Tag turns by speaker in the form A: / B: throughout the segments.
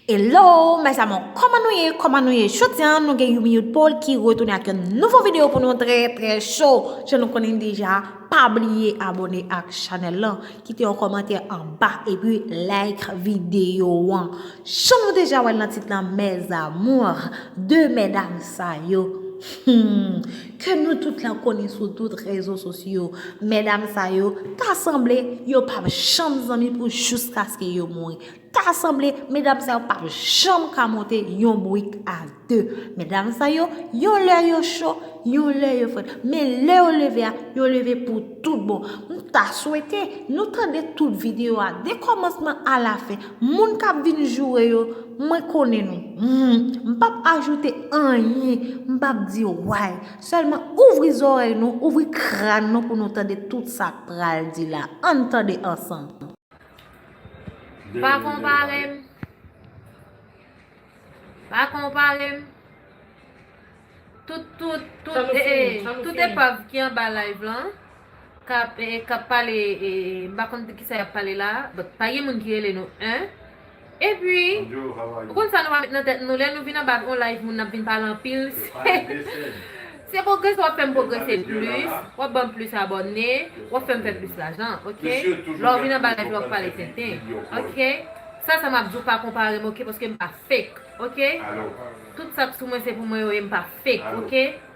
A: Hello mes amour koman nou ye koman nou ye jodi an nou gen Youmiyoud Paul ki retounen ak yon nouvo video pou nou trè trè cho jan nou konnen deja pa bliye abone ak chanel lan kite yon komantè anba epi like video an jan nou deja wèl nan tit lan mes amour de medam sa yo humm ke nou tout la konnen sou tout rezo sosyo medam sa yo ta sanble yo pap janm zanmi pou jous kaske yo mouri. Ta sanble medam sa yo pap janm ka monte yon bourik a 2. Medam sa yo, yon lè yo cho, yon lè yo frèt. Men lè yo leve a, yo leve pou tout bon. M ta swete, nou tande tout video a, de kòmansman a la fen. Moun k ap vin joure yo, mwen konnen nou. M pap ajoute anyen, m pap di way. Sèlman ouvri zòrèy nou, ouvri kràn nou pou nou tande tout sa k pral di la. An n tande ansanm. Pa
B: konpare m. Pa konpare m. Tout, tout, tout, Sa nou e, fini, sa nou tout fini. epav ki an ba live lan, kap, e, kap pale, e, m pa konn de ki sa yap pale la, but pa gen moun ki rele nou 1, Epi, ou konn sa nou va met nan tèt nou, lè nou vin anba on live moun n ap vin pale anpil, se pwogrese w ap fè m pwogrese plis, w ap ban m plis abòne, w ap fè m fè plis lajan, ok? Lè w vin anba live la w ap pale tenten, ok? Sa sa m ap di w pa konpare m, ok, paske m pa fake, ok? Tout sa k sou mwen se pou mwen yo ye m pa fake, ok?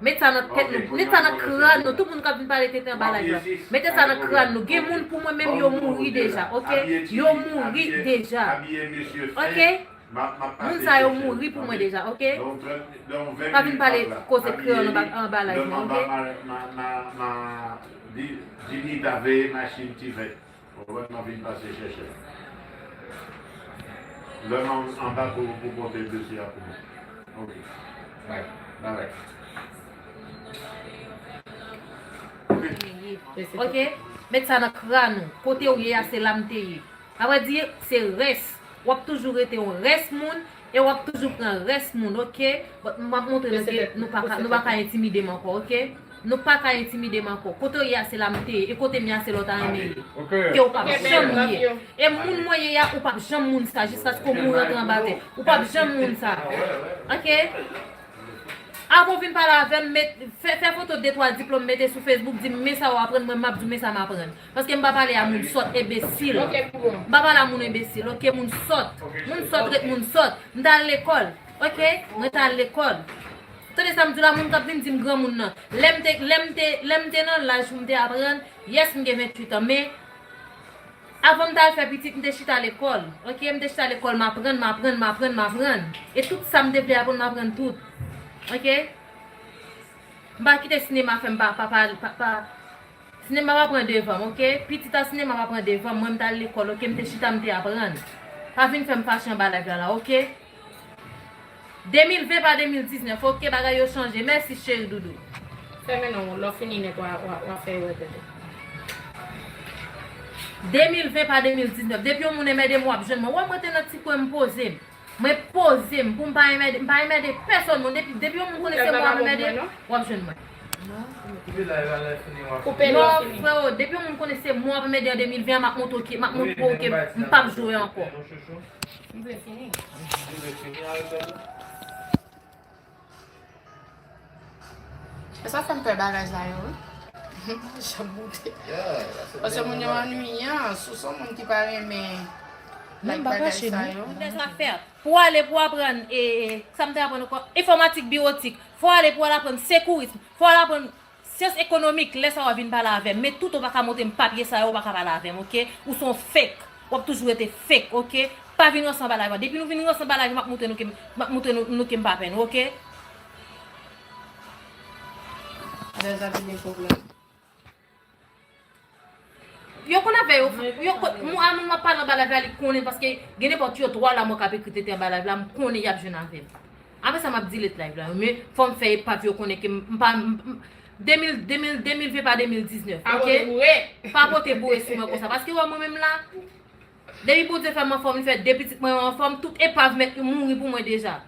B: Met sa nan tèt nou, met sa nan kran nou, tout moun kap vin pale tenten anba live la, mete sa nan kran nou, gen moun pou mwen menm yo mouri deja ok, yo mouri deja ok, moun sa yo mouri pou mwen deja ok, pa vin pale koze kreyòl anba anba live
C: mwen ok. Robert map vin pase chèchè lèm anba pou ou pote dosye a
B: pou mwen ok bye bye bye ok met sa nan kran ou kotew ye a se lam te ye avre di se rès wap toujou rete yon rès moun E wap toujou pran res moun ok but m ap montre nou ke nou paka nou paka entimidem anko ok nou paka entimidem anko kote w ye a se la m te ye e kote m ye a se la w ta renmen ye ke w pap janm ye e moun mwen ye a ou pap janm moun sa jiskaske w mouri antre anba tè ou pap janm moun sa ok avan w vin pale avem met fè foto de twa diplom mete sou facebook di m me sa w aprann mwen m ap di w me sa m aprann Paske m pa pale a moun sòt, ebesil. M pa pale a moun ebesil, ok, moun sòt. Moun sòt ret moun sòt. M ta al lekòl, ok, mwen ta al lekòl. Tande sa m di w la, moun k ap vin di m granmoun nan. Lè m te, lè m te, lè m te nan laj pou m te aprann, yes m gen 28 an, men, avan m ta al fè pitit, m te chita lekòl, ok, m te chita lekòl, m aprann, m aprann, m aprann, m aprann. E tout sa m te vle aprann, m aprann tout. Ok? M pa kite sinema fè m pa, pa, pa, pa. Sinema pa pran devanm ok. Pitit a sinema pa pran devanm mwen m tal lekòl ok m te chita m te aprann pa vin fèm fache anba live la la ok 2020 pa 2019 ok bagay yo chanje mèsi cheri doudou. Fèmen non
D: lè w fini nèt wa fè yo wè tèt
B: ou. 2020 pa 2019 depi yon moun enmède m wap jwenn mwen wè mwen te nan ti kwen m poze m. Mwen pozem poum pa enmède, mpa enmède pèsòn non depi depi yon moun konnen se mwen wap enmède wap jwenn mwen. Non freo depi yon moun konnen se mwen wap enmède an 2020 an map montre w map montre w ke mpap jwe ankò.
D: E sa fèm pè bagaj la yo wi. Mwen janm moute. Pase moun yo annuyan. Si w son moun ki pa renmen like
B: bagay sa yo. Move zafè. Pou w ale pou w aprann e, sa m te aprann ankò? Enfòmatik biwotik. Fò w ale pou w al aprann sekourism. Fò w al aprann. Syans ekonomik lè sa wap vin pale avèm men tout ou paka montrem papye sa yo ou paka pale avèm ok ou son fake wap toujou rete fake ok pa vin ranse anba live lan depi nou vin ranse anba live lan map moutre nou kem map moutre nou kem pa pè nou ok. Lè
D: zak di gen pwoblèm.
B: Yo konn afè yo Mwen yo kon moun a moun wap pale anba live la li konnen paske gen nenpòt yo 3 la mwen kap ekri tenten anba live la m konnen yap jwenn avèm aprè sa map delete live la men fòm fè epav yo konnen ke m pa m m 2000 2000 2020 pa 2019 Pa ok pote boure pa pote boure sou mwen konsa paske wè mwen menm la depi Bondye fè m anfòm li fè 2 pitit mwen yo anfòm tout epav mèt mouri pou mwen deja.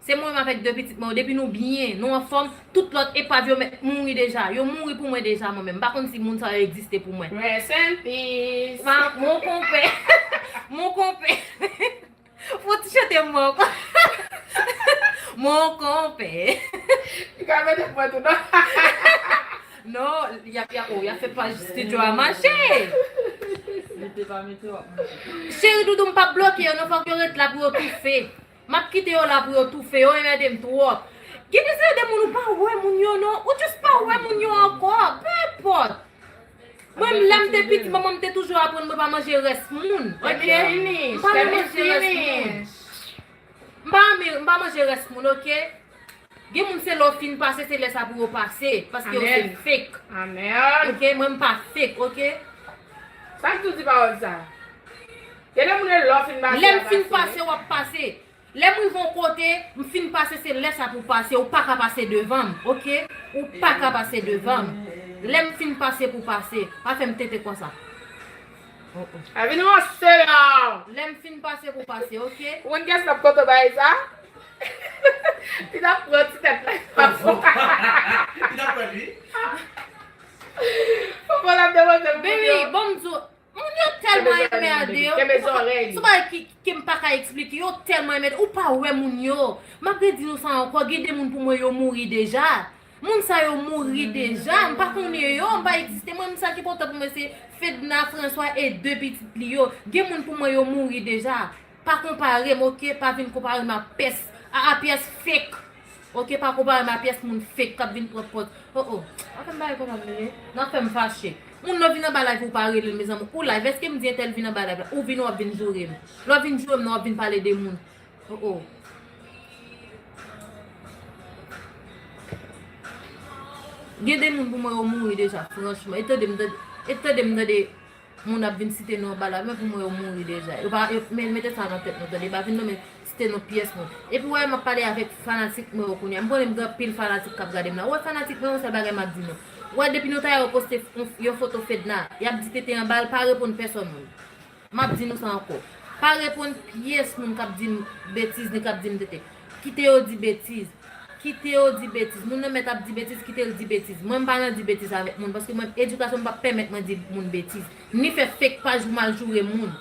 B: Se mwen avèk 2 pitit mwen yo depi nou byen, nou anfòm, tout lòt epav yo mèt mouri deja, yo mouri pou mwen deja mwen menm, m pa konn si moun sa yo egziste pou mwen. Rest in peace.
D: Wa mon konpè
B: Mon konpè Fon ti chante mwen ankò Mon konpè Li ka
D: mèt ap pran tou non
B: Non, y ap oh y ap fè paj studio a mache Mete pa mete w ap mache Cheri doudou m pap bloke yo non fòk yo ret la pou yo toufe Map kite yo la pou yo toufe yo yo edem trop. Gen de seri de moun ou pa wè moun yo non ou just pa wè moun yo ankò peu importe Mwen menm lèm te piti manmanm te toujou aprann mwen pa manje rès moun ok m pa renmen
D: manje rès
B: moun m pa renmen m pa manje rès moun ok. Gen moun se lè w fin pase se lè sa pou yo pase paske yo se fake ok
D: mwen m pa
B: fake ok. Sa
D: ki tou di pawòl sa. Gen de moun e lè w fin pase. Lè m fin pase wap
B: pase. Lè m rive yon kote m fin pase se lè sa pou pase ou paka pase devan m ok ou paka pase devan m lè m fin pase pou pase pa fè m tenten konsa.
D: Mwen vin ranse la. Lem fin pase pou
B: pase ok. Ou konn kiyes kap kontan bagay
D: sa? Li tap pran ti tèt la epa pou. Li
C: tap pran li.
D: Popo lap depoze pou moun yo. Baby banm di w.
B: Moun yo telman enmerde. Kenbe zorey li. Son bagay kem
D: paka
B: esplike. Yo telman enmerde. Ou pa we moun yo. Map redi nou sa anko. Gen de moun pou mwen yo mouri deja. Moun sa yo mouri deja, m pa konnen yo, m pa egziste. Mwen menm sa ki enpòtan pou mwen se Fedna, Franswa e 2 pitit li yo. Gen moun pou mwen yo mouri deja. Pa konpare m ok, pa vin konpare m a pès, a a pyès fake. Ok, pa konpare m a pyès moun fake k ap vin pran pòz. O o, a fè m pale konsa m ye? N ap fè m fache. Moun lè w vin anba live ou pa rele l mezanmi. Ou live, èske m di entèl vin anba live la? Ou vin ou ap vin joure m. Lè w vin joure m nan w ap vin pale de moun. Oh oh. Gen de moun pou mwen yo mouri deja franchman. E tande m tande, e tande m tande moun ap vin site non bala mwen pou mwen yo mouri deja. Yo pa mete sa nan tèt nou tande. Pa vin nonmen site non pyès moun. E pou wè m ap pale avèk fanatik mwen yo kounye a. M konnen m gen anpil fanatik k ap gade m la. Ou wè fanatik mwen yo yon sèl bagay m ap di nou. Ou wè depi nou ta wè yo poste yon foto Fedna, y ap di tete anba l pa reponn pèsòn moun. M ap di nou sa ankò. Pa reponn pyès moun k ap di m betiz ni k ap di m tenten. Kite yo di betiz. Kite yo di betiz. Moun nan mèt ap di betiz, kite l di betiz. Mwen m pa nan di betiz avèk moun paske mwen edikasyon m pa pèmèt mwen di moun betiz. Ni fè fake paj pou m al joure moun.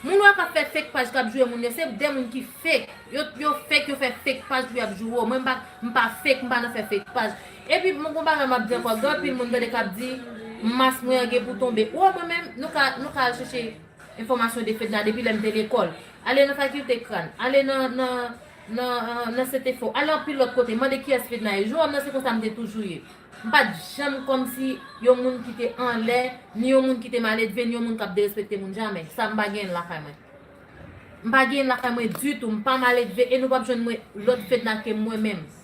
B: Moun ou a k ap fè fake paj k ap joure moun yo, se de moun ki fake. Yo fake, yo fè fake paj pou y ap joure w. Mwen m pa fake, m pa nan fè fake paj. Epi bon bagay map di ankò gen anpil moun tande kap di mas mwen an gen pou tonbe ou wè mwen menm nou ka nou ka al chèche enfòmasyon de fedna depi lèm te lekòl ale nan fakilte kran ale nan nan nan nan setefò ale anpil lòt kote mande kiyès fedna ye jou wèm nan se konsa mte toujou ye mpat janm kòmsi yon moun ki te anlè ni yon moun ki te maledve ni yon moun kap derespekte moun jamè sa mpa genyenl lakay mwen mpa genyenl lakay mwen ditou mpa maledve e nou pap jwenn mwen lòt fedna ke mwen menm.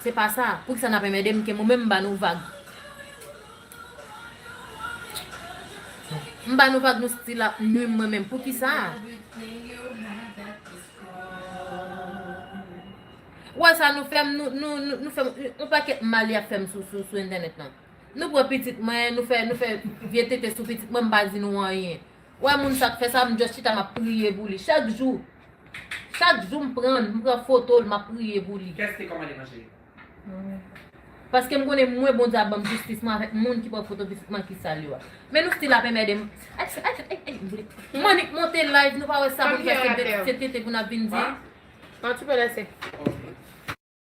B: Se pa sa, poukisa nap enmède m ke mwen menm m ba nou vag. M ba nou vag nou stil ap nwi m mwen menm poukisa. Ou wè sa nou fè m nou fè m yon pakèt mal yap fè m sou entènèt lan. Nou pran pitit mwen nou fè vye tete sou pitit mwen m pa di nou anyen. Ou wè moun sa k fè sa m just chita map priye pou li chak jou. Chak jou m
C: pran l,
B: m pran
C: foto l, m
B: ap priye pou li.
C: Kès te
B: kòmande manje
C: yo? Mwen.
B: Paske m konnen mwen Bondye ap ban m jistis mwen avèk moun ki pran foto pitit mwen ki sal yo a. Men nou stil ap enmède m. Ayy ayy fè ayy m vle.
D: Manick
B: monte live nou pa wè sa
D: pou n
B: fè se bèt se tenten pou n ap
D: vin
B: di. An ti
D: pè
B: lèse. Ok.